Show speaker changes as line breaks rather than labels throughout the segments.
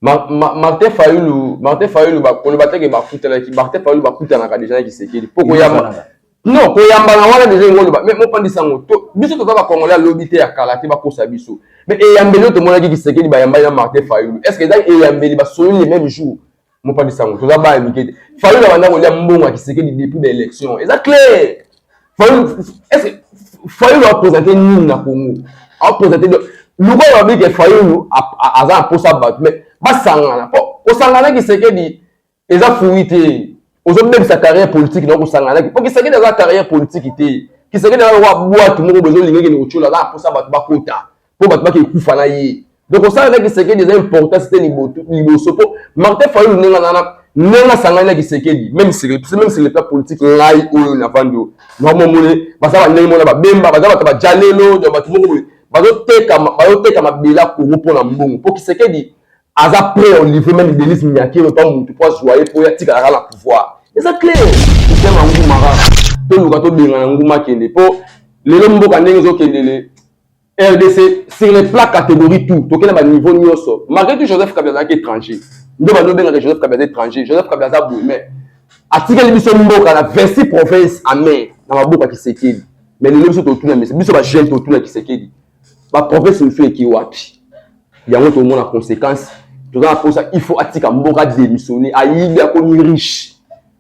Ma, ma, Martin Fayulu, Martin Fayulu ba koloba teke ba futana ki Martin Fayulu ba kutana ka deja na kisekeli. Poko ya Non, ko yamba na wana deja ngolo ba. Mais mo pandisa ngo to biso to ba congolais lobi te ya kala te ba kosa biso. Mais e yambeli to mona ki kisekeli ba yamba na Martin Fayulu. Est-ce que ezali e yambeli ba soli le même jour? Mo pandisa ngo to ba ba mike te. Fayulu ba ndako ya mbongo ya kisekeli depuis ba élections. Eza clair. fayulu apresente nini na congo apresente lokola babi ke fayulu aza na mposa bato me basangana mpo kosangana kisekedi eza fui te ozobebisa carrière politique na kosangana mpo kisekedi aza carrière politique te kisekedi aza lokola bwatu moko bozolinga ekende kotyola aza na mposa bato bakota mpo bato bake ekufa na ye donc osala na kisekedi eza importance te liboso mpo martin fayulu ndenge nana ndenge asangani na kisekedi meme sur le plan politique ngai oyo navandi oyo namomone baza bandenge mona babemba baza bato bajalelo donc bato moko boye bazoteka mabela kongo mpo na mbongo mpo kisekedi aza prêt au livre meme denise minyakiro mpa motu mpo azwa ye mpo ye atikalaka na pouvoir eza clair kotema nguma kaka toluka tobengana nguma kende mpo lelo mboka ndenge ezokendele rdc sur les plats catégorie tout tokenda ba niveau nyonso malgré tout joseph kabila azalaki étranger nde bando obengaka joseph kabila aza étranger joseph kabila aza boye mais atikeli biso mboka na 26 province amai na maboko ya kisekeli mais lelo biso totuna mesa biso bajeune totuna kisekeli baprovince mosusu eki wapi yango tomona conséquence toza na mposa il faut atika mboka démissionne ayibi akomi riche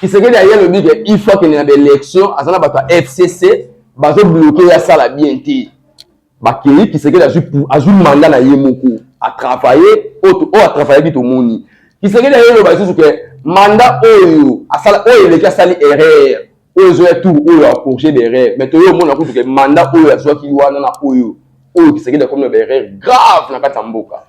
Kisekedi aye alobi ke il faut akende na ba election, aza na bato ya FCC bazo bloke ye asala bien te. Bakei Kisekedi azwi azwi manda na ye moko a travailler oyo oh, oh, a travaillaki tomoni. Kisekedi aye aloba lisusu ke manda oyo asala oyo eleki asali erreur oyo ezoya tour oyo a corriger ba erreur mais toye omona kutu ke manda oyo azwaki wana na oyo oyo Kisekedi akomi na ba erreur grave na kati ya mboka.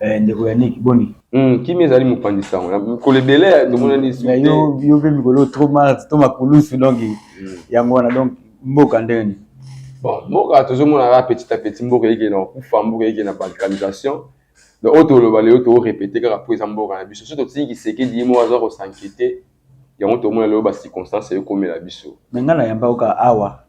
Eh, ndeko ya niki boni hmm, kimi ezali mopanzi
sango na mikolo ebele tomonani yo mpe mikolo
trop mart to makulusu donc hmm. yango wana donc mboka ndenge nini bon mboka
tozomona kaka petit à petit mboka eyike na kokufa mboka eyike na balkanisation donc oyo toloba lelo toorepete kaka mpo eza mboka na biso so totingi kisekedi ye moko aza kosankete Yango tomona lelo ba circonstances eyo komela biso. Mais nga na yamba yoka
awa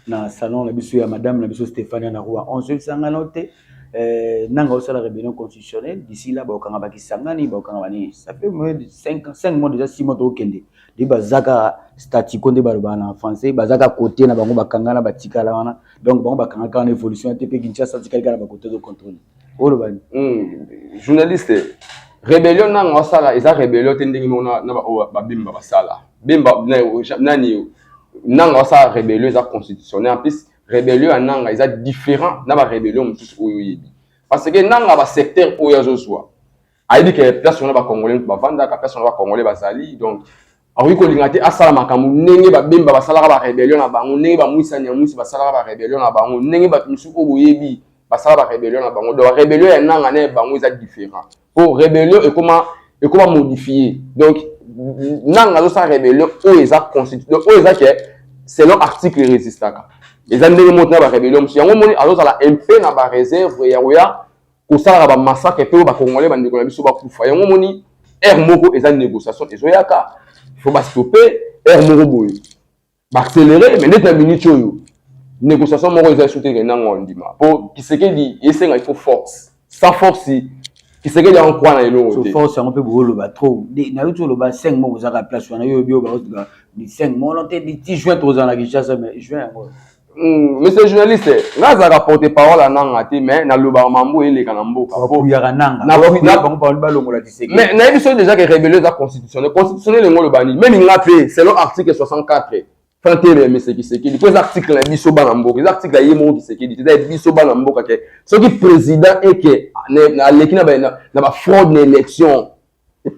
na salon na biso ya madame na biso Stephania na Rua 11 oyebisanga nao te euh, nanga osala rebellion constitutionnelle d'ici là bakokanga ba Kisangani bakokanga ba nini ça fait moins de 5 5 mois déjà 6 mois tokende de bazaka statu quo nde baloba na français bazaka côté na bango bakangana batikala wana donc bango bakangaka wana évolution te pe Kinshasa tikali kala ba côté de contrôle oloba ni hmm, journaliste
rebellion nanga osala eza rebellion te ndenge moko na baoyo babemba basala bemba nani nanga osala rebellion eza constitutionnel en plus rebellion ya nanga eza différent na ba rebellion mosusu oyo oyebi parce que nanga ba secteur oyo azozwa ayebi ke place wana bakongole moto bavandaka place wana bakongole bazali donc akoki kolinga te asala makambo ndenge babemba basalaka barebellion na bango ndenge bamwisa nyamwisi basalaka barebellion na bango ndenge bato mosusu oyo boyebi basala barebellion na bango donc rebellion ya nanga na ya bango eza différent mpo rebellion ekoma ekoma modifie donc nanga azosala rebellion oyo eza constitution donc oyo eza ke selon article resistaka eza ndenge moko na barebellion mosusu yango omoni azozala mpe na bareserve ya koya kosalaka ba massacre mpe oyo ba congolais bandeko na biso bakufa yango omoni heure moko eza négociation ezoyaka faut bastope heure moko boye baaccéléré mais neti na minute oyo négociation moko eza esu teke nango ondima mpo kisekedi esenga il faut force sans force kisekedi yango kwa na elongo te force yango mpe booloba
trop nayoki oloba 5 moko ozaka place wana yo oyobi oyo baotika 5 mono te 10 juin tokozala na kinshasa mais juin yango Mm, monsieur
journaliste nga azalaka porte parole ananga te mais nalobaka mambo eleka na
mbokabakuyakanaanganabangobalongolamais nayebi soki déjà ke
rébelio eza constitutionnel constitutionnel yango oloba nini meme nga mpe selon article 64 fantele ya mese kisekedi mpo eza article na biso bana mboka eza article ya ye moko kisekedi te eza ya biso bana mboka ke soki président eke aleki na bafraude na élection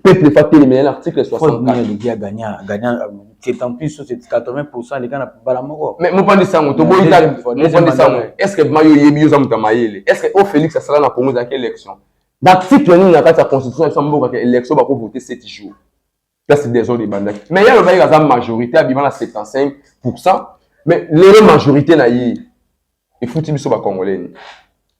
peuple efa telemela na
article 64mopanzi sango toboyi
mopanzi sango estce ma yo oyebi oza moto ya mayele estce o félix asala na congo ezalaki élection na article nini na kati ya constitution ya mboka ke élection bakovote 7 jours place desordre ebandaki mais ye alobaki aza majorité abima na 75 pourcent mais lelo majorité na ye efuti biso ba congolais ni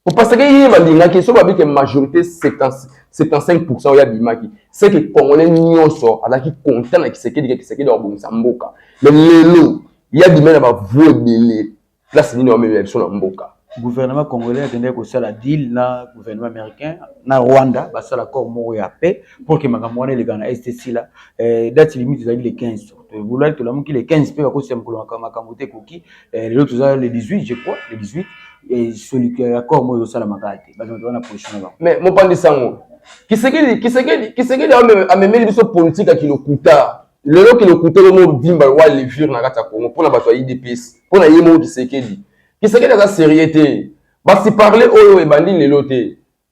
po parce que ye balingaki so babi ke majorité 75% oyo abimaki c'est que congolais nyonso azalaki content na kisekedi ke kisekedi akobongisa mboka mais lelo ye abimai na bavue ebele place nini wamemela biso na mboka gouvernement congolais
akendaki kosala deal na gouvernement américain na rwanda basala accord moko ya paix pour ke makambo wana elekana na este sila eh, date limite ezalaki le 15 bolaki tolamuki le 15 mpe bakosisa mokolo makambo te ekoki Eh, lelo toza le 18 je crois le 18 eh, soluka ya corps moyo ezosalama kaka te bato baza na position na bango mais mopandi sango
kisekedi kisekedi kisekedi amemeli biso politike ya kilokuta lelo kilokuta yo mo dimba wa levure na kati ya congo mpo na bato ya idps mpo na ye moko kisekedi kisekedi aza serie te basi parle oyo ebandi lelo te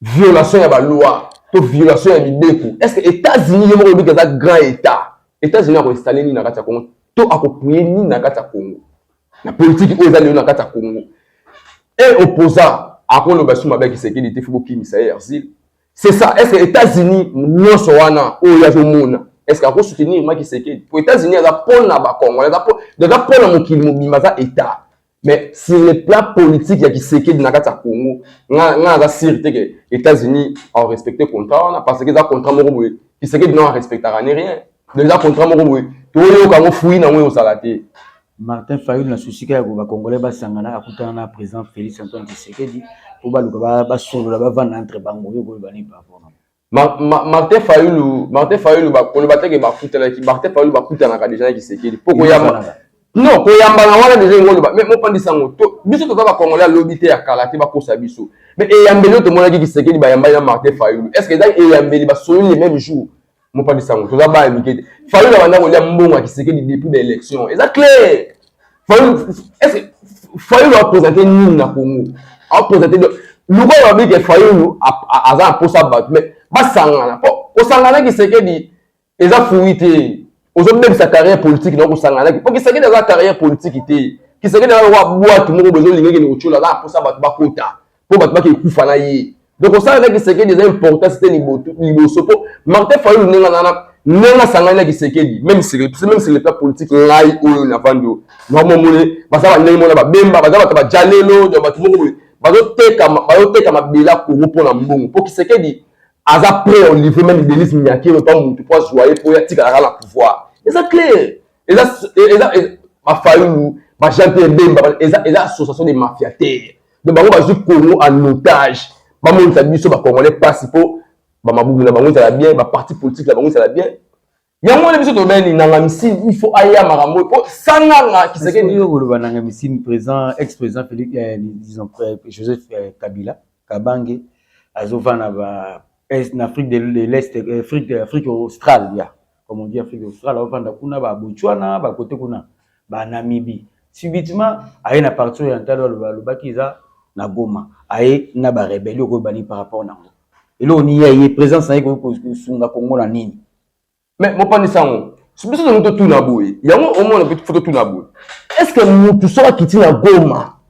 violation ya baloi to violation ya mibeko est ce que états-unis ye moko elobi eza grand état états-unis akoinstalle nini na kati ya congo to akopuye nini na kati ya congo na politiki oyo eza lelo na kati ya congo e opposant akoloba su mabe ya kisekedi te fo bokimisa ye erzile c'est ça est ce que états-unis nyonso wana oyo azomona est ce que akosoutenir ma kisekedi po états-unis aza mpona bacongolais aza mpona mokili mobima aza état mais sur le plan politique ya kisekedi na kati ya congo nga nga aza sire te ke états-unis arespecte contrat wana parce que eza contrat moko boye kisekedi nao arespectaka ne rien donc eza contrat moko boye toyoka yango fui nango eozala te martin fayulu
na susika ya koba congolais basangana akutana na président félix antoine kisekedi mpo baluka basolola bavanda entre bango yo koyeba nini par rapport na Ma, ma, Martin
Fayulu Martin Fayulu bakoloba te ke bakutanaki Martin Fayulu bakutanaka deja na Kisekedi mpo koyamba non koyambana wana deja yango oloba mais mopandisa yango to biso toza bakongole ya lobi te ya kala te bakosa biso mais eyambeli oyo tomonaki Kisekedi bayambani na Martin Fayulu est ce que ezali eyambeli basololi le même jour mopandisa yango toza baya mike te Fayulu abanda kolia mbongo ya Kisekedi depuis ba élection eza clair fayulu apresente nini na congo apresente lokola babi ke fayulu aza na mposa bato me basangana mpo kosangana kisekedi eza fui te ozobebisa carrière politique na kosangana mpo kisekedi aza carrière politique te kisekedi aza lokola bwatu moko bozolinga ekende kotyola aza na mposa bato bakota mpo bato bakei kufa na ye donc osala na kisekedi eza importance te liboso mpo martin fayulu ndenge nana ndenge asangani na kisekedi meme sur le plan politique ngai oyo navandi oyo namomone baza bandenge mona babemba baza bato bajalelo donc bato moko boye bazoteka mabela kongo mpo na mbongo mpo kisekedi aza prêt olivre meme denise miakero mpa motu mpo azwa ye mpo ye atikalaka na pouvoir eza claire eza eza bafayulu ba jean pierre bemba eza eza association de mafia te donc bango bazwi congo en otage bamonisa biso bacongolais mpasi mpo bamabumu na bango ezala bien baparti politique na bango ezala bien yango wana biso tobeni nanga misini il faut aya makambo mpo sanganga kisekedi koloba nanga misini
président ex président félix eh, disons eh, joseph eh, kabila kabange azovanda na afrique de l'est afrique australe ya comme on dit Afrique australe, avanda kuna ba Botswana, ba kote kuna, ba Namibie. Subitement, aye na parti ya Ntalo aloba alobaki eza na Goma, aye na ba rebellion ko bani par rapport na ngo. Elo ni ye présence na ye ko sunga Congo na nini? Mais mo pani
sango. Biso na moto tuna boye. Yango omona pe foto tuna boye. Est-ce que mutu soki akiti na Goma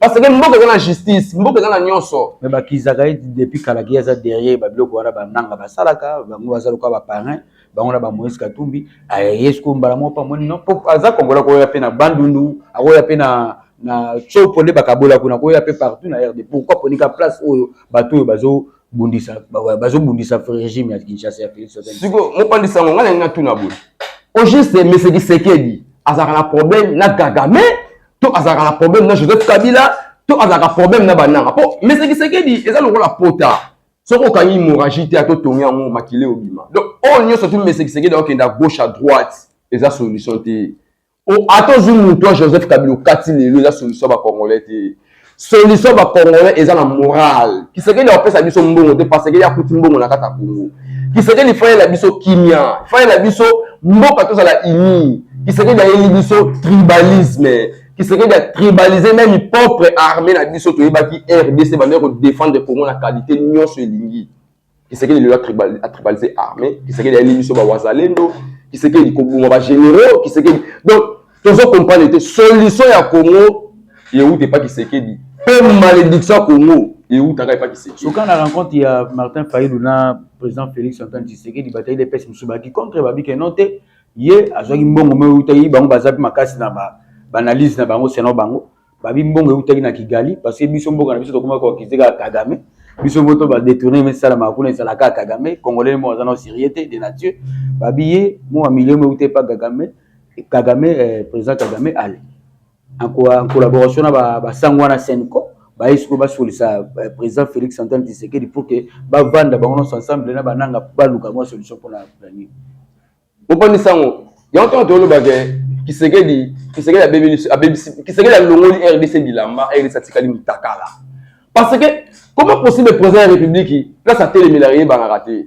parce que mboka eza na justice mboka eza na nyonso mais bakizaka ye
depuis kala ki aza derrière babiloko wana bananga basalaka bango baza lokola baparin bango na bamoise katumbi aye siko mbala moko pamoni no po aza kongola koya mpe na bandundu akoya mpe na na copo nde bakabola kuna koya mpe partout na rd pourquoi ponika place oyo bato oyo bazo bundisa bazobundisa regime ya kinshasa ya felix siko mopandi sango ngai
nalingi natuna boye au juste mesekisekedi azalaka na problème na gagame to azalaka na problème na joseph kabila to azalaka problème na bananga mpo mese kisekedi eza lokola pota soki okangi hemorragie te ato tongi yango makila obima donc oyo oh, nyonso tu mese kisekedi akokende à gauche à droite eza solution te ata ozwi moto ya joseph kabila okati lelo eza solution ya bacongolais te Solution ba congolais eza na morale. Kisekedi akopesa biso mbongo te parce que ya kuti mbongo na kata Congo. Kisekedi fai la biso kimia, fai la biso mboka tozala ini. Kisekedi ayeli biso tribalisme. Kisekedi a tribaliser même propre armée na biso toyebaki RDC bande ko défendre Congo na qualité nyonso elingi. Kisekedi lelo atribalize armée, Kisekedi ayeli biso ba wazalendo, Kisekedi koboma ba généraux, Kisekedi donc tozo comprendre te solution ya Congo euta epa Kisekedi mpe malédiction ya Congo eutaka epa Kisekedi. Soka na rencontre ya
Martin Fayulu na président Félix Antoine Tshisekedi batali DPS mosusu baki contre babi ke non te ye azwaki mbongo mpe eutaki bango baza mpe makasi na ba analyse na bango selon bango babi mbongo eutaki na kigali parce que biso mboka na biso tokomaki koakize kaka kagame biso moto badetourne mesalamaka kuna ezala kaka kagame congolais moko aza na serie te de nature babi ye mua milio meute epa kagame kagame eh, président kagame ale en collaboration na basango wana senco baye sikoyo basolisa eh, président félix antoine tshisekedi pour que bavanda bango nyonso ensemble na bananga baluka mwa solution mpona planning Mopani
sango, yango ntango toloba ke Kisekedi, Kisekedi abebisi, abebisi, Kisekedi alongoli RDC bilamba, RDC atikali mutakala. Parce que comment possible président ya République place atelemela eyebanaka te.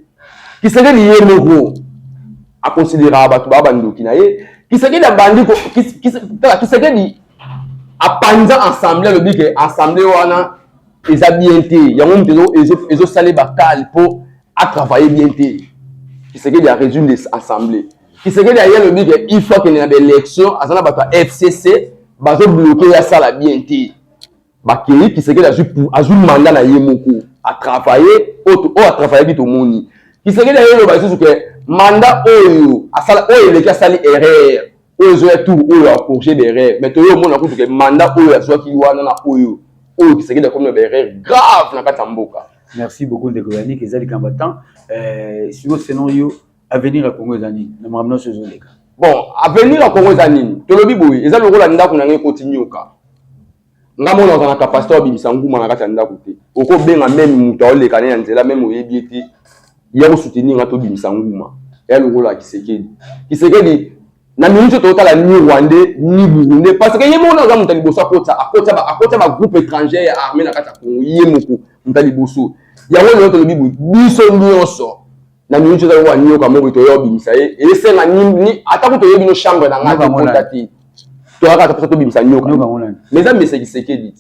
Kisekedi ye moko akonsideraka bato baa bandoki na ye. Kisekedi abandi ko, Kisekedi apanza assemblée alobi ke assemblée wana eza bien te yango moto ezosala bakale mpo atravaille bien te kisekedi ya résume des assemblées kisekedi aye alobi ke il faut akende na baélection aza na bato ya fcc bazobloke ye asala bien te bakei kisekedi azwi manda na ye moko atravaille oyo oh, atravaillaki tomoni kisekedi aye oloba lisusu ke manda oyo asala oyo eleki asali erreur oyo ezoya tour oyo a corriger d'erreur mais toyo omona kutu ke mandat oyo azwaki wana na oyo oyo kisekedi akomi na baerreur grave na kati ya mboka merci beaucoup ndeko
yanik eza likambo ya temps euh, siko selon yo avenir ya congo eza nini na makambo nyonso ezoleka bon avenir
ya congo eza nini tolobi boye eza lokola ndako na ngai ekoti nyoka nga mona oza na kapasite obimisa nguma na kati ya ndako te okobenga meme moto aoleka ne na nzela meme oyebi ye te ya kosoutenir nga tobimisa nguma ya lokola kisekedi kisekedi na minute oyo totala ni rwandais ni burundais parce que ye moko nde aza moto ya liboso akotisa akotisa akotisa bagroupe étranger ya armée na kati ya congo ye moko moto ya liboso yango lelo tolobi boye biso nyonso na minute eza lokola nioka mobi toya obimisa ye esenga ni ata kutu oyebi no chambre na ngai tokota te toyaka ata mposa tobimisa nioka mais eza mese kisekedi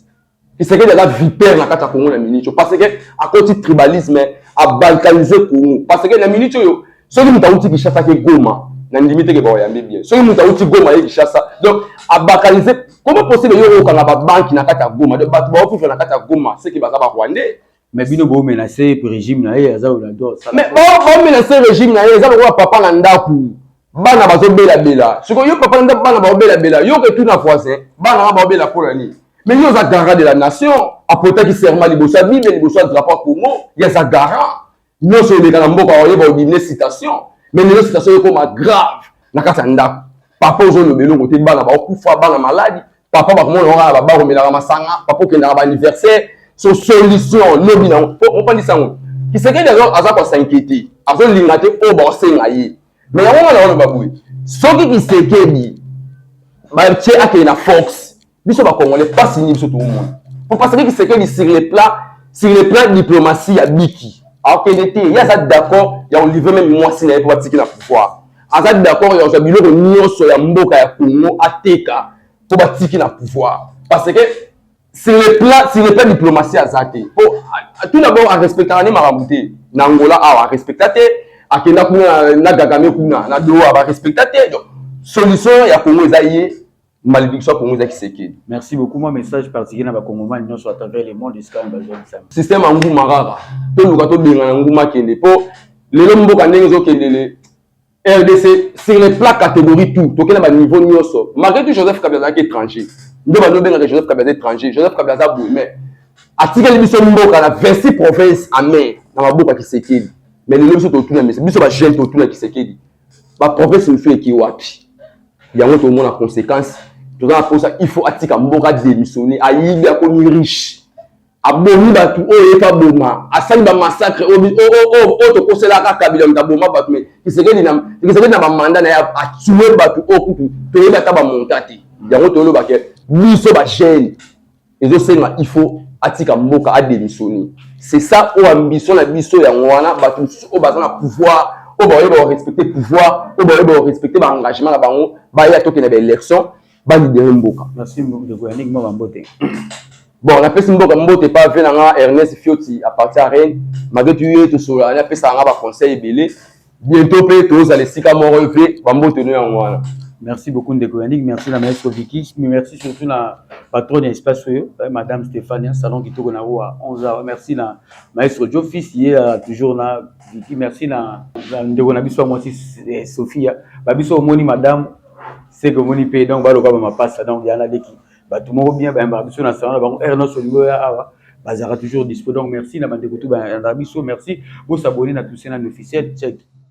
kisekedi aza vipere na kati ya kongo na minute oyo parce que akoti tribalisme abalkanise kongo parce que na minute oyo soki moto awuti kishasa ke goma na ndimi teke baoyambi bien soki moto awuti goma ye kishasa donc abalkanise comment possible yo okanga babanki na kati ya goma donc bato baokufa na kati ya goma seke baza barwandais mais bino bo
menacer ye regime na
ye
aza
olador mais bo
bo
menacer
regime
na ye eza
lokola
papa na
ndaku
bana bazo bela bela siko yo papa na ndaku bana bao bela bela yo ke tuna voisin bana ba bao bela pona nini mais yo oza garant de la nation apotaki serment liboso ya bible liboso ya drapeau ya congo ye aza garant nyonso eleka na mboka oyeba odimine citation mais lelo citation ekoma grave na kati ya ndako papa ozoloba eloko te bana baokufa bana maladi papa bakomona yango kaka baba komelaka masanga papa okendaka baanniversaire so solution lobi na yango po opandisa yango kisekedi aza kosinquiete azolinga te oyo bakosenga ye me yango wana oloba boye soki kisekedi batie akende na force biso bakongole mpasi nini biso tokomona po parce que kisekedi sur le plan sur le plan diplomatie ya biki akende te ye aza d'accord ya kolivre meme mwasi na ye mpo batiki na pouvoir aza d'accord ya kozwa biloko nyonso ya mboka ya Congo ateka mpo batiki na pouvoir parce que sur le plan sur le plan diplomatie aza te mpo tout d'abord arespectaka nde makambo te na Angola awa arespecta te akenda kuna na Kagame kuna na Doha barespecta te donc solution ya Congo eza ye maledictio ya kongo eza kisekedi merci beaucoup mwa message
particulier na bakongomani nyonso à travers le monde esika bazongisami système ya nguma kaka
toluka tobengana nguma kende mpo lelo mboka ndenge ezokendele rdc sur les plats catégorie tout tokenda baniveau nyonso malgré tout joseph kabila azalaki étranger nde bando obengaka joseph kabila aza étranger joseph kabila aza boye mais atikeli biso mboka na 26 province amer na maboko ya kisekedi mais lelo biso totuna mesi biso bajeune totuna kisekedi ba province misusu eki wapi yango tomona conséquence toza na posa il faut atika mboka démissionner ayibi akomi riche abomi bato oyo ye mpe aboma asali bamassacre oyo tokoselaka kabila moto aboma bato me kisekedi na bamanda na ye atue bato oyo kutu toyebi ata bamonta te yango toyoloba ke biso bagene ezosenga il faut atika mboka ademissionne c'est ça oyo ambition na biso yango wana bato mosusu oyo baza na pouvoir oyo bakoyeba korespecte pouvoir oyo bakoyeba korespecte baengagement na bango baya tokende baélection balibere mboka
bon
napesi mboka mbote pa ve na nga ernest fioti apartir ya reine malgré tuye tosololana apesaka nga baconseil ebele bientôt mpe tozala esika moko mpe bambote no yango wana merci beaucoup ndeko
yannick merci na maestro viki merci surtout na patronne ya espace oyo eh, madame stéphania salon kitoko na yango ya 11 heures merci na maestro jo fils ye ya toujours na viki merci na ndeko na biso ya mwasi eh, sophia babiso omoni madame seke omoni mpe donc baloka bamapasa donc yana leki bato moko bien bayambaka biso na salon na bango heure nyonso olingi oya awa bazalaka toujours dispo donc merci na bandeko to bayandaka biso merci bosabone na tousena na officiel check